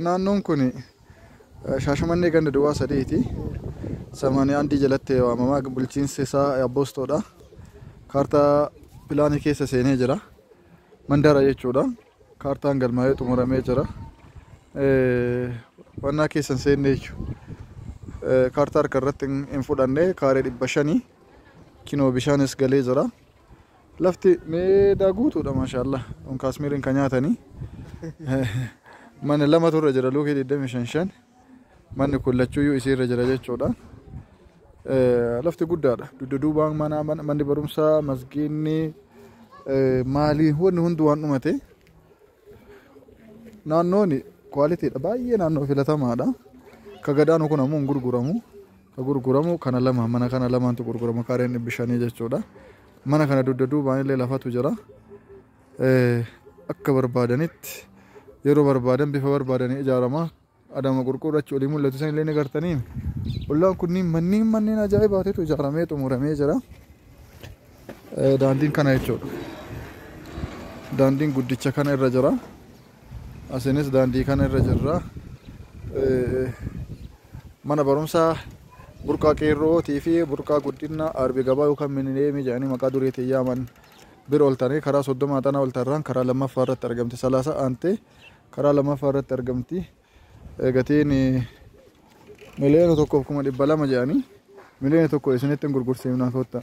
Naannoon kun Shaashamannee ganda duwwaa sadiiti. Samaanii Andii jalatti waamama. Bulchiinsi isaa Abboostoodha. Kaartaa pilaanii keessa seenee jira. Mandara jechuudha. Kaartaan galmaa'ee xumuramee jira. Wannaa keessa hin seenne jechuudha. Kaartaa harka irratti hin fudhanne kaaree dhibba shanii. Kinoo bishaanis galee jira. Lafti meedaa guutuudha maashaallah on kaasmiirin ka nyaatanii manni lamatu irra jira luukii 25 shan manni kun lachuuyyuu isii irra jira jechuudha Eh, lafti guddaadha dugda duubaan manaa man- manni barumsaa masgiinni eh, maaliin wanni hundi waan dhumate Naannoon kwaalitiidha baay'ee naannoo filatamaadha. Ka gadaanu kun ammoo hin gurguramu. Ka gurguramu kana lama mana kana lamaantu gurgurama kaareen dhibbi shanii jechuudha. Mana kana dugda duubaan illee lafatu jira. Eh, Akka barbaadanitti yeroo barbaadan bifa barbaadanii ijaarama. Adama qurquur achi olii mul'atu san illee ni gartanii ollaan kunniin manneen manneen ajaa'ibaatitu ijaaramee xumuramee jira daandiin kana jechuudha daandiin guddicha kana irra jira asinis daandii kana irra jirra mana barumsaa burqaa qeerrootii fi burqaa guddina arbi gabaa yookaan minileemii jedhanii maqaa duriitiin yaaman bira oltanii karaa soddomaa xanaa oltarraan karaa lammaffaa irratti argamte salaasa aantee Karaa lammaffaa irratti argamti. Gatiin miliyoona tokkoof kuma dhibba lama jedhanii miliyoona tokko isinitti hin gurgursiifna kottaa.